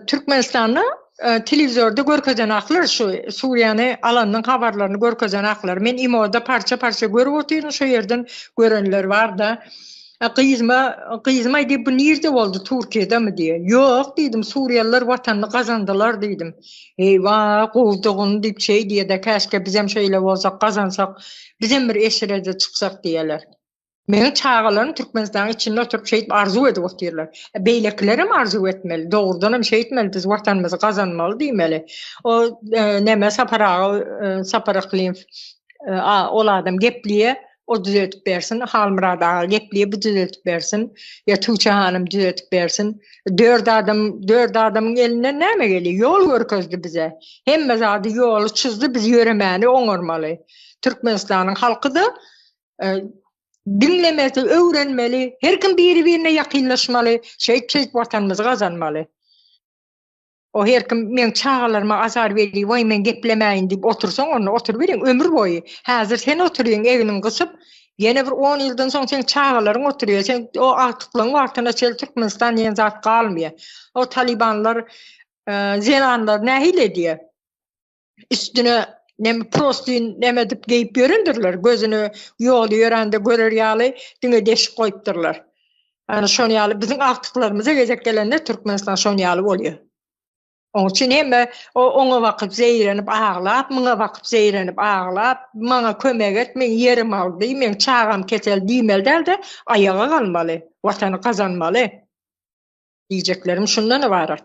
Türkmenistanda telewizorda görkezen aklar şu Suriýany alanyň habarlaryny görkezen aklar. Men imoda parça-parça görüp otyryn, şu ýerden görenler barda. Gyzyma, gyzyma diýip bu nirde boldy, Türkiýedemi diýe. Ýok diýdim, Suriýalylar watanyny gazandylar diýdim. Eýwa, gowdugyn diýip şeý diýede, käşke bizem şeýle bolsak, gazansak, bizem bir eşrede çyksak diýeler. Meniň çagalarym Türkmenistanyň içinde oturyp şeýdip arzuw edip otyrlar. E, beýlekilerem arzuw etmeli. Dogrudan hem şeýtmeli, biz watanymyzy gazanmaly diýmeli. O e, näme Sapar aga, e, Sapar Aklyýew, e, a, ol adam gepliýe, o düzeltip bersin, Halmyrat aga gepliýe, bu düzeltip bersin, ýa Tuwçe hanym düzeltip bersin. Dört adam, dört adamyň elinden näme gelýär? Ýol görkezdi bize. Hemme zady ýoly çyzdy, biz ýöremäni oňarmaly. Türkmenistanyň halky da diňlemesi, öwrenmeli, her kim biri-birine ýakynlaşmaly, şeýtseýt Watanymyzy gazanmaly. O her kim meň çagalaryma azar berýär, waý men geplemäýin diýip otursaň, onda oturyberiň ömür boýy. Häzir sen oturýyň egniňi gysyp, ýene bir on ýyldan soň seň çagalaryň oturýar, sen o agtyklygyň wagtyna çenli Türkmenistan diýen zat galmaýar. O talybanlar zenanlary nähili edýär? üstüne nem prostin neme dip geyip yörendirler gözüne yolu yörende görer yaly dine deşik koyupdurlar yani şon yaly bizim aktıklarımıza gezek gelende Türkmenistan şon yaly oluyor Oň üçin hemme o oňa bakyp zeýrenip aglap, muňa bakyp zeýrenip aglap, maňa kömek et, men ýerim aldy, men çagam ketel diýmeli dälde, aýaga galmaly, watany gazanmaly. Diýjeklerim şundan ybarat.